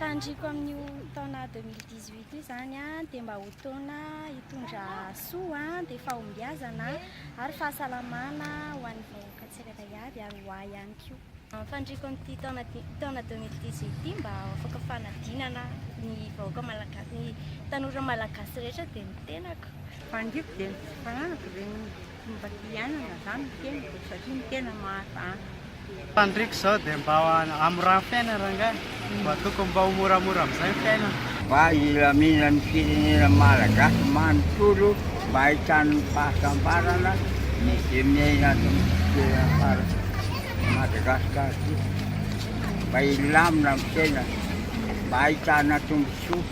Fandriako amin'io taona 2018 io zany dia mba ho taona hitondra soa dia fahombiazana ary fahasalamana ho an'ny vahoaka tsirairay avy ary ho ahy ihany koa. Fandriako amin'ity taona taona 2018 ity mba ho afaka fanadinana ny vahoaka malagasy ny tanora malagasy rehetra dia ny tenako. Fandriako dia ny tsy fananako ireny. Fomba fiainana zany ny tenako satria ny tena mahazatra. Fandriko izao dia mba hamoragno fiainana rangahy mba tokony mba ho moramora amizay ny fiainana. Mba hilamina ny firenena malagasy manontolo mba hahitany ny fahasambarana ny ze miaina ato amty toerana fara Madagascar ty mba hilamina ny fiainana mba hahitana tombotsoa.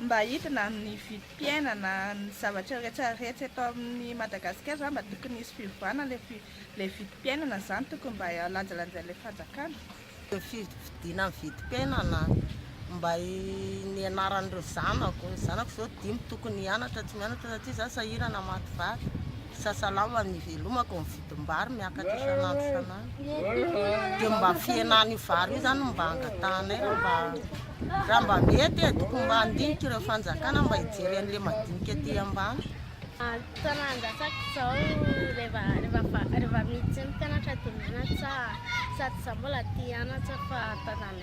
Mba hidina aminy fiainana ny zavatra rehetra rehetra eto amin'ny Madagascar zany mba tokony hisy fiovana le le vidim-piainana zany tokony mba lanjalanjain'ilay fanjakana. Ny fifidiana ny vidim-piainana mba nianaran'ireo zanako, ny zanako zao dimy tokony hianatra tsy mianatra satria za sahirana maty vady. Sasalao an ivelomako ny vidim-bary miakatra isan'andro isan'andro dia mba fihenan'io vary io zany mba angatahanay raha mba raha mba mety e tokony mba handinika ireo fanjakana mba hijery an'ilay madinika aty ambany Fotoana handatsaka izao rehefa rehefa rehefa miditra ny mpianatra dia mianatra sady izaho mbola te hianatra fa tazanay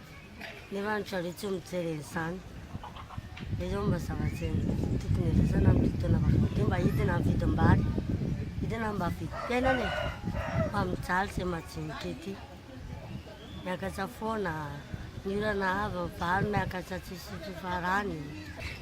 Nefa ry zareo tsy mijery an'izany. Dia izao mba zavatra tokony hiresahana amin'ity taona vaovao ity mba hidina ny vidim-bary, hidina mba vidim-piainana e. Fa mijaly izay majinika ety. Miakatra foana, ny orana avo, ny vary miakatra tsisy fifarany.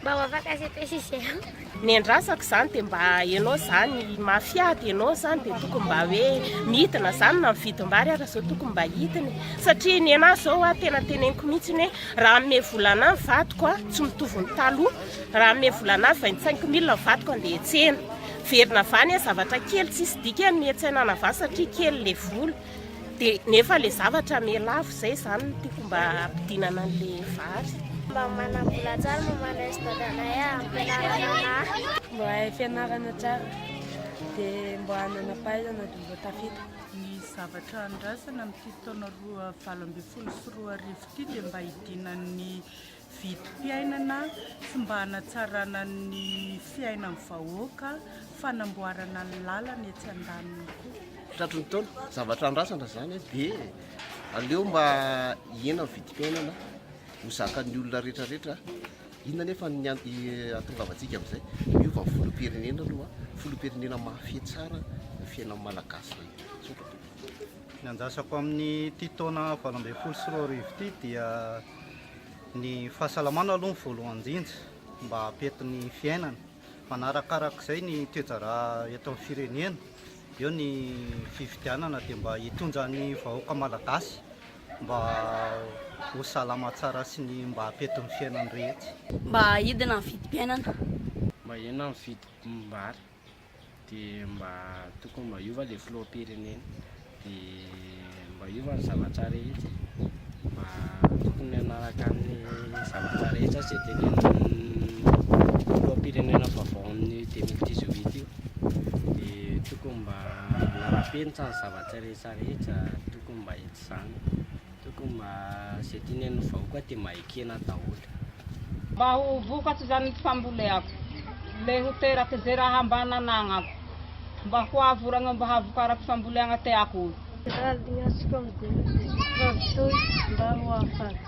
Mba ho afaka sy epesy izy ireo. Ny andrasako izany dia mba ianao izany mafia dia ianao izany dia tokony mba hoe midina izany na mividim-bary ary izao tokony mba hidina satria ny anahy izao a tena teneniko mihitsy hoe raha hanome vola anahy ny vadiko a tsy mitovy ny taloha raha hanome vola anahy vingt cinq mille ny vadiko andeha hiantsena verina avy any zavatra kely tsisy dikany ny hiantsaina anavany satria kely le vola Dia nefa le zavatra mialavo izay zany no tiako mba hampidinana an'le vary. Mba manam-bola tsara mba mandresy dadanay ampianarana anahy. Mba hahay fianarana tsara dia mba hanana fahaizana dia mba tafita. Ny zavatra andrasana amin'ity taona roa valo ambin'ny folo sy roa arivo ity dia mba hidinan'ny vidim-piainana, tsy mba hanatsarana ny fiainan'ny vahoaka, fanamboarana ny lalana etsy andaniny koa. Tratry ny taona, zavatra andrasana izany eh, dia aleo mba hihena ny vidim-piainana, ho zakan'ny olona rehetrarehetra eh. Inona anefa ny an- i- ahatongavantsika amin'izay? Miova ny filoham-pirenena aloha, filoham-pirenena mahafehy tsara ny fiainan'ny Malagasy rehetra. Misaotra tompoko. Ny andrasako amin'ity taona valo ambin'ny folo sy roa arivo ity dia Ny fahasalamana aloha ny voalohany indrindra mba hampiety ny fiainana. Manarakarak'izay ny toe-draharaha eto amin'ny firenena, eo ny fifidianana dia mba hitondra ny vahoaka malagasy mba ho salama tsara sy ny mba hampiety ny fiainany rehetra. Mba hidina ny vidim-piainana. Mba hena ny vidim-bary. dia mba tokony mba hiova ilay filoham-pirenena dia mba hiova ny zavatra rehetra e, mba tokony hanaraka ny zavatra rehetra izay tenenin'ny filoham-pirenena vaovao amin'ny 2018 io dia tokony mba hanara-penitra ny zavatra rehetra rehetra tokony mba hety izany. Tokony mba izay tiany an'ny vahoaka dia mba ekena daholo. Mba ho vokatry izany ny famboleako, le ho teraky ze raha mba nananako, mba ho avo ragno mba havokarako famboleagna teako. Raha lignatsiko amin'ny Jesoa Kristy Rajoy mba ho afaka.